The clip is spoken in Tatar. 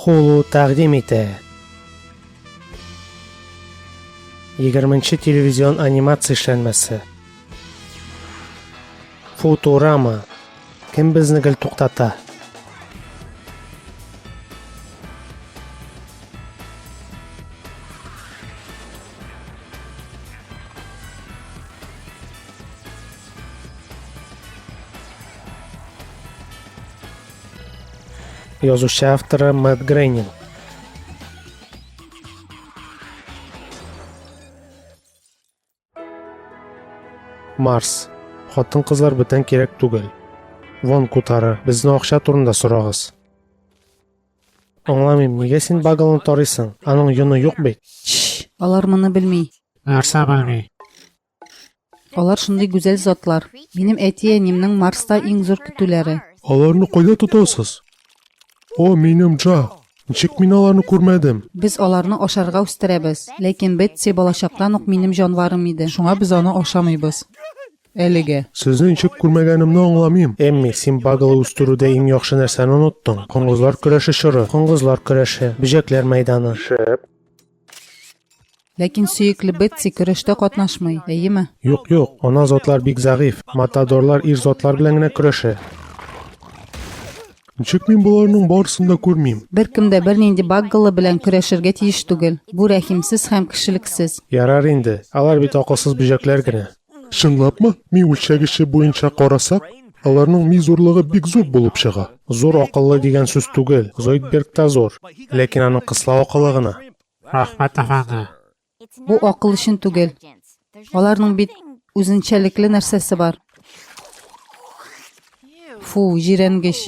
Хулу тәкъдим итә. 20 телевизион анимация эшләнмәсе. Футурама. Кем безне гел туктата? Язучы авторы Мэтт Грейнинг. Марс. Хатын кызлар бүтән кирәк түгел. Вон кутары, безне акча турында сорагыз. Аңламыйм, нигә син багалны тарыйсың? Аның йоны юк бит. Алар моны белми. Нәрсә белми? Алар шундый гүзәл затлар. Минем әти-әнимнең Марста иң зур көтүләре. Аларны кайда тотасыз? О, минем Джа! Ничек мин аларны күрмәдем? Без аларны ашарга үстерәбез. Ләкин Бетси балачактан ук минем җанварым иде. Шуңа без аны ашамыйбыз. Әлегә. Сезне ничек күрмәгәнемне аңламыйм. Эмми, син багалы үстерүдә иң яхшы нәрсәне оныттың. Коңгызлар көрәше чоры. Коңгызлар көрәше. Бөҗәкләр мәйданы. Шәп. Ләкин сөекле Бетси көрәштә катнашмый, әйеме? Юк, юк, ана затлар бик зәгыйфь, матадорлар ир затлар белән генә көрәшә. Ничек мин боларның барысын да күрмим? Беркем дә бернинди Баггалы белән көрәшергә тиеш түгел. Бу рәхимсез һәм кешелексез. Ярар инде, алар бит акылсыз бөҗәкләр генә. Чынлапмы? Ми үлчәгече буенча карасак, аларның ми зурлыгы бик зур булып чыга. Зур акыллы дигән сүз түгел, Зоидбергта зур, ләкин аның кыслау акылы гына. Рәхмәт, әфәнде. Бу акыл өчен түгел. Аларның бит үзенчәлекле нәрсәсе бар. Фу, җирәнгеч.